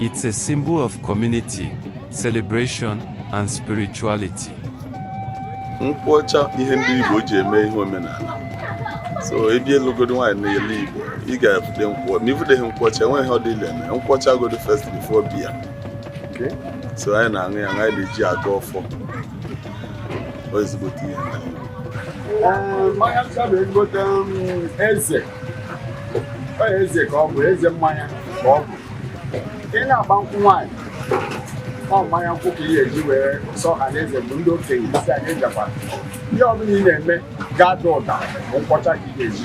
It's a symbol of community, celebration, and spirituality. Nkwọcha ihe ndị Igbo ji eme ihe omenala. So ị bịa ịlụgodo nwaanyị n'ala Igbo, ị ga-evude nkwọ. Ma i vudeghị nkwọcha, enweghị ọ dịla eme. Nkwọcha godo first before beer. Okay. So anyị na-aṅụ ya, anyị na-eji agọ ọfọ. Ọ ezigbote ihe. Mmanya ncha bụ ezigbote eze. eze ka ọ bụ eze mmanya ka ọ bụ ị na-agba nkwụ nwaanyị ọ mmanya nkwụ ka ị ga-eji were sọ ha n'eze bụ ndị okenye isi anyị jakwa ihe ọbụla ị na-eme ga-ada ụda bụ nkwọcha ka ị ga-eji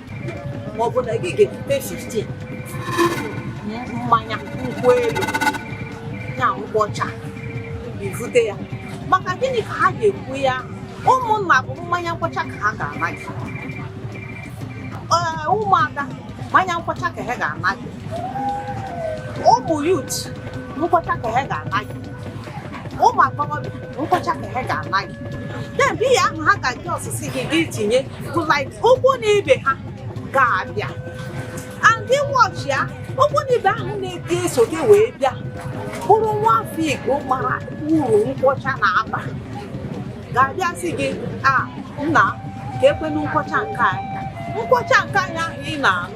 ma ọ bụ na gị ga-ebute 15 mmanya nkwụ elu ya nkwụ ọcha i bute ya maka gịnị ka ha ga-ekwu ya ụmụnna bụ mmanya nkwọcha ka ha ga-ana gị ee ụmụada mmanya nkwọcha ka ha ga-ana gị ụmụ youth nkwọcha ka ha ga-ana gị ụmụ agbọghọbịa nkwọcha ka ha ga-ana gị and beer ahụ ha ga-adị asị sị gị gị tinye bụ like ikwu na ibe ha ga-abịa and ị watchịa ikwu na ibe ahụ na-adị eso gị wee bịa bụrụ nwa afọ igbo mara uru nkwọcha na-aba ga-abịa sị gị a nna kee kwanụ nkwọcha nke anyị nkwọcha nke anyị ahụ ị na-aṅụ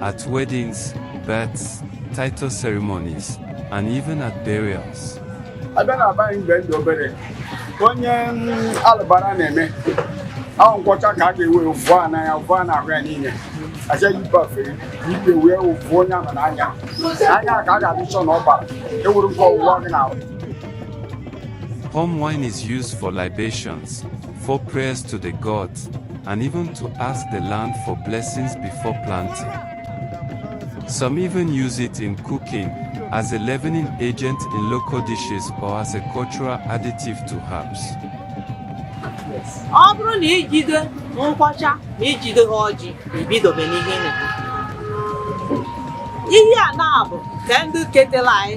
at weddings, births, title ceremonies, and even at burials. a bịa na abaghị mgbe ndị obere onye alụbara na-eme ahụ nkwọcha ka a ga-ewe fụọ ya n'anya fụọ ya n'ahụ ya niile aja yibafe ibe wee fụọ onye ahụ n'anya anya ka a ga-adị chọ na ọ bara ewere ụgwọ ọwụwa gị na Palm wine is used for libations, for prayers to the gods, and even to ask the land for blessings before planting. Some even use it in cooking, as a leavening agent in local dishes or as a cultural additive to herbs. ọ bụrụ na i jide nkwọcha na i jide ha ọjị i bidobe n'ihe ihe a na-abụ ka ndị ketela anyị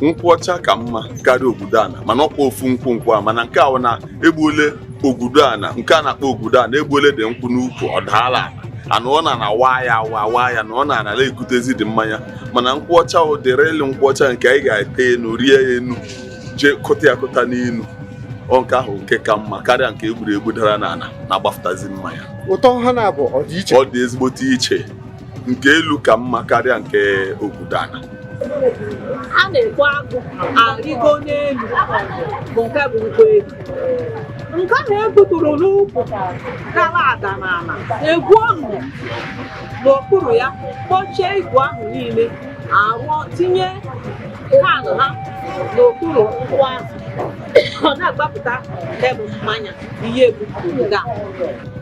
nkwụ ọcha ka mma karịa ogudo ana mana ọkwa ofu nkwụ nkwụ a mana nke ahụ na egbuole ogudo ana nke a na-akpọ ogudo ana egbuole dị nkwụ n'ukwu ọ daala ana ọ na-awa ya awa awa ya na ọ na anala ekutezi dị mmanya mana nkwụ ọcha ụdịrị ịlụ nkwụ ọcha nke anyị ga-ete enu rịa enu jee kụta ya kụta n'enu ọ nke ahụ nke ka mma karịa nke e gburu egbu dara n'ana na-agbafụtazi mmanya ụtọ ha na-abụ ọ dị iche ọ dị ezigbote iche nke elu ka mma karịa nke ogudo ana a na-ekpo agụ arịgo n'elu bụ nke bụ nkwụ elu nke ahụ egbuturu n'ukwu gara ada n'ala egwuo ọnụ n'okpuru ya kpọchie igu ahụ niile arụọ tinye can ha n'okpuru nkwụ ahụ ọ na-agbapụta nke bụ mmanya ihe egbuturu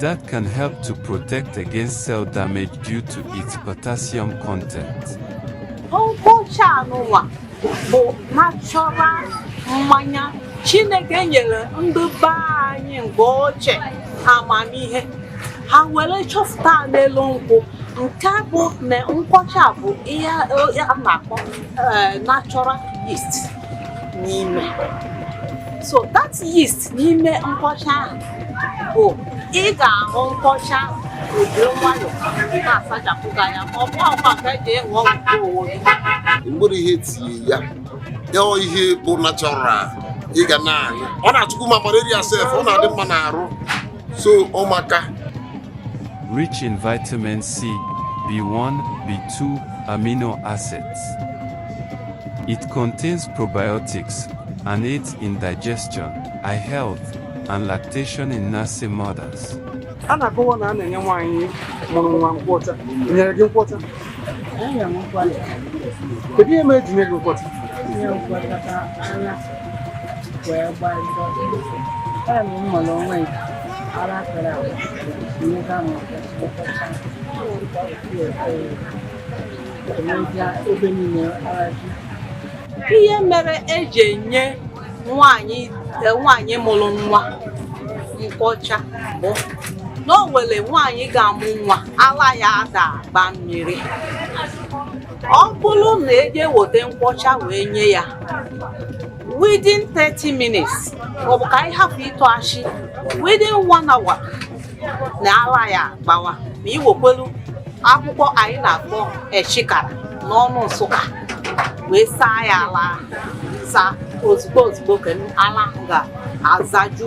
That can help to protect against cell damage due to its potassium content. Nkwọcha a nụwa bụ natural mmanya Chineke nyere ndị be anyị mgbe ochie amamihe ha were chọpụta n'elu nkwụ nke bụ na nkwọcha bụ ihe a na-akpọ eh, natural yeast n'ime so that yeast n'ime nkwọcha ahụ bụ ị ga-aṅụ nkwọcha o ji nwayọ na-asachapụ gị anya ma ọ bụ ọkwa nke eji enwe ọgwụ owo gị mgbere ihe tinye ya ọ ihe bụ natural ị ga na-aṅụ ọ na-achụkwu ma malaria sef ọ na-adị mma n'arụ so ọ maka rich in vitamin C, B1, B2, amino acids. It contains probiotics and aids in digestion, eye health, and lactation in nursing mothers. a na-akọwa na a na-enye nwaanyị mụrụ nwa nkwọcha nyere gị nkwọcha kedu ihe mere eji nye gị nkwọcha wee gbaa njọ time m mụrụ nwa m ara pere agwa nyega m nkwọcha emezia ebe niile ara ji ihe mere eji enye nwaanyị e, nwaanyị mụrụ nwa nkwọcha bụ na o nwere nwaanyị ga-amụ nwa ala ya ada agba mmiri ọ bụrụ na eje weta nkwọcha wee nye ya within 30 minutes maọbụ ka anyị hapụ ịtụ ashị within one hour na ala ya gbawa ma i wekwelu akwụkwọ anyị na-akpọ echikara n'ọnụ nsụka wee saa ya ala saa ozugbo ozugbo ka ala ga-azaju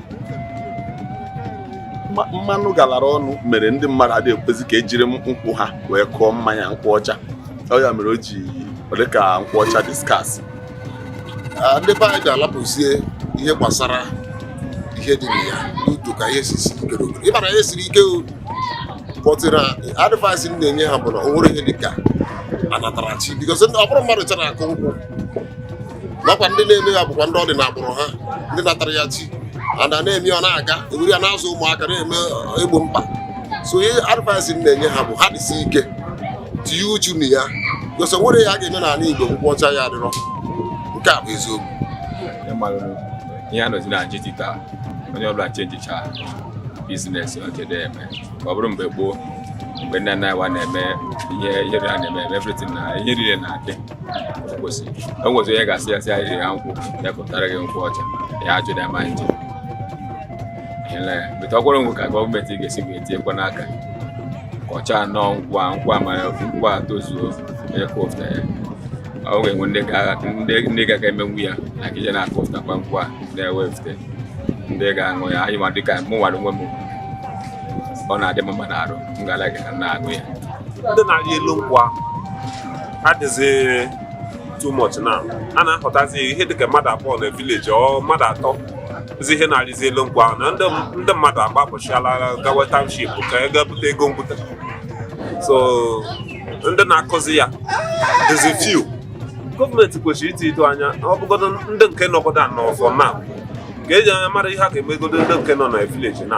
mmanụ galara ọnụ mere ndị mmadụ adịghị ekwezi ka ejiri nkwụ ha wee kụọ mmanya nkwụ ọcha ọ ya mere o ji dị ka nkwụ ọcha dị scarce ndị be anyị ga-alapụzie ihe gbasara ihe dị na ya n'udo ka ihe siri ike n'obodo ị mara ihe siri ike but the advice m na-enye ha bụ na o nwere ihe dị ka anatara chi because ọ bụrụ mmadụ chara akụ nkwụ nakwa ndị na-eme ya bụkwa ndị ọ dị n'agbụrụ ha ndị natara ya chi ada na-eme ọ na-aga ewere ya na-azụ ụmụaka na-eme egbo mkpa so ihe advice m na-enye ha bụ ha dịsi ike tinye uchu na ya because o nwere ihe a ga-eme n'ala Igbo nkwụ ọcha ya adịrọ nke a bụ eziokwu ihe a nọzi na digital onye ọbụla chenjicha biznes ọjede eme ọ bụrụ mgbe gboo mgbe nna nna anyị wa na-eme ihe ihe a na-eme everything na ihe niile na-adị enwezi onye ga-asị ya sị ya rịa nkwụ ya kụtara gị nkwụ ọcha ya ajụda ma nje bụta ọkwụrụ nkwụ ka gọọmenti ga-esi wee tinyekwa n'aka kọchaa nnọọ nkwụ a nkwụ a mara nkwụ a tozuo onye kụfta ya ọ ga-enwe ndị ga-aga emenwu ya na ije na-akụftakwa nkwụ a na-ewefute ndị ga-aṅụ ya anyị ma dịka mụ nwara onwe m ọ na-adị m mma n'arụ m ga-ala gị ka m na-aṅụ ya ndị na-arị elu nkwụ ahụ adịzi too much na a na-ahụtazi ihe dịka mmadụ abụọ na vileji or mmadụ atọ zi ihe na-arịzi elu nkwụ ahụ na ndị mmadụ agbapụchiala gawa township ka e ga-ebute ego mbute so ndị na-akụzi ya dịzi few gọọmenti kwesịrị iti ito anya ọ bụgodo ndị nke nọgodo anọ ọzọ na ka eji anya mara ihe a ga-emegodo ndị nke nọ na vileji na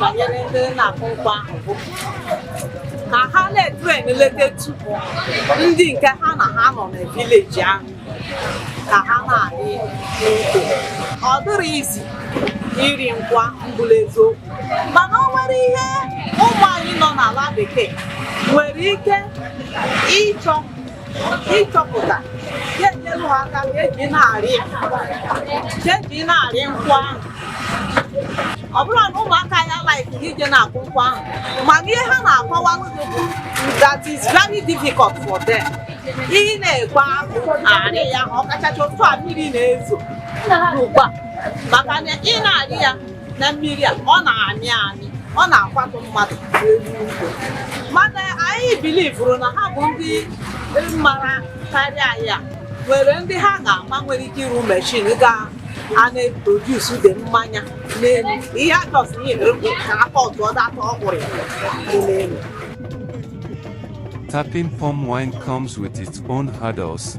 banyere ndị na-akụ nkwụ ahụ bụ ka ha na-etren eletatụ ndị nke ha na ha nọ na vileji ahụ ka ha na-adị n'udo ọ dịghị easy ịrị nkwụ mbụla eziokwu mana o nwere ihe ụmụ anyị nọ n'ala bekee nwere ike ịchọ ịchọpụta ga-enyere ha aka ka eji na-arị ka eji na-arị nkwụ ahụ ọ bụrụ na ụmụaka ya like ije na-akụ nkwụ ahụ mana ihe ha na-akọwa n'ụzọ bụ that is very difficult for them ị na-egba arị ya ọkachacha otu a mmiri na-ezo ugbu a maka na ị na-arị ya na mmiri a ọ na-amị amị ọ na-akwatụ mmadụ n'elu nkwụ mana anyị bilivuru na ha bụ ndị mara karịa anyị a nwere ndị ha ga-ama nwere ike ịrụ meshin ga na-eprodus dị mmanya n'elu ihe ajọs ihe ka aka ọtụ ọ data ọkwụrụ n'elu Tapping palm wine comes with its own hurdles,